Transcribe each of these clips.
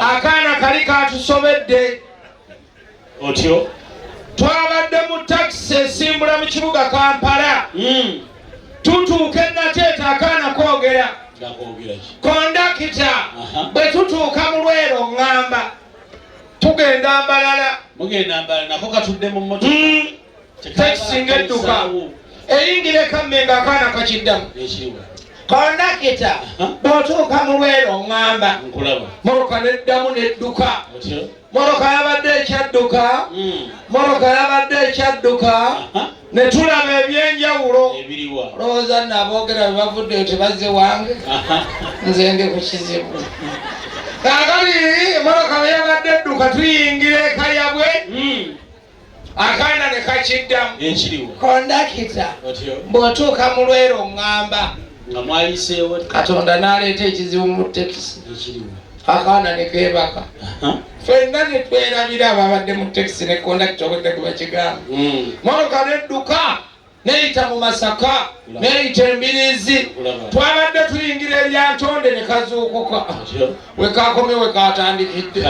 akaana kali katusobedde otyo twabadde mu takisi esimbula mu kibuga kampala hmm. tutuuka enateeta akaana kogera kondakita bwe tutuuka mu lwero ŋŋamba tugenda mbalala mugenda mbala nako katudde mu moto hmm. takisi ng'edduka eyingira ekammenga akaana kakiddamu kondakita bw'otuuka mu lwero oŋŋamba moroka n'eddamu n'edduka moroka yabadde ekyadduka hmm. moroka yabadde ekyadduka ne tulaba ebyenjawulo lowooza naboogera bwe bavudde nti bazze wange nze ndi ku kizibu kakali moroka bwe yabadde edduka tuyingira ekayabwe hmm. akaana ne kakiddamu ekiriwo kondakita bw'otuuka mu lwera oŋŋamba nga mwayiseewo katonda n'aleeta ekizibu mu tekisi ekiriwo akaana ne keebaka fenna ne twerabira ababadde mu tekisi ne kondakita obadde gwe bakigamba hmm. motoka n'edduka neyita mu masaka neyita embirizi twabadde tuyingira eryantonde ne kazuukuka wekakomye wekatandikidde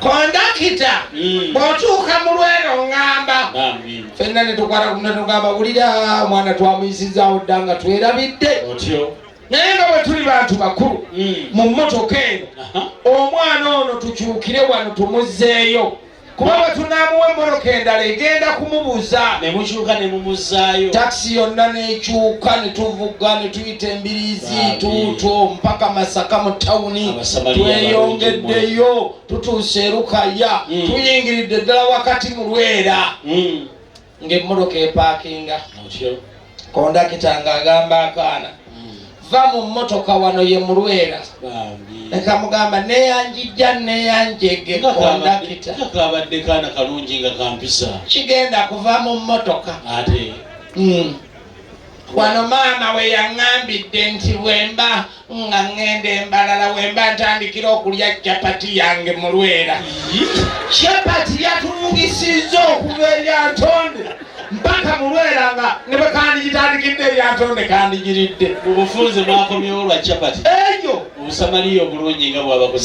kondakita hmm. bwotuuka mu lwero ngamba fenna netukwata kunatugamba wulira omwana twamuyisizaawo dda nga twerabidde naye nga bwe tuli bantu bakulu hmm. mu mmotoka eno omwana ono tukyukire wano tumuzzeeyo kuba bwe tunaamuwa emmoloka endala egenda kumubuza ne mukyuka ne mumuzzaayo takisi yonna n'ekyuka ne tuvuga ne tuyita embirizi tuuto mpaka masaka mu tawuni tweyongeddeyo tutuuse erukaya hmm. tuyingiridde ddala wakati mu lwera hmm. ng'emmotoka epaakinga kondakita ng'agamba akaana va mu mmotoka wano ye mulwera nekamugamba neyanjijja neyanjege kondakita kabadde kaana kalungi nga kampisa kigenda kuva mu mmotoka ate hmm. wano maama we yaŋŋambidde nti bwemba nga ŋŋenda embalala wemba ntandikira okulya capati yange mu lwera capati yatumugisizza okuva eryantonde mpaka mu lwera nga ne bwe kandigitandikidde eryantonde kandigiridde mu bufunze mwakomyewo lwa capati eyo obusamaliya obulungi nga bwabakoze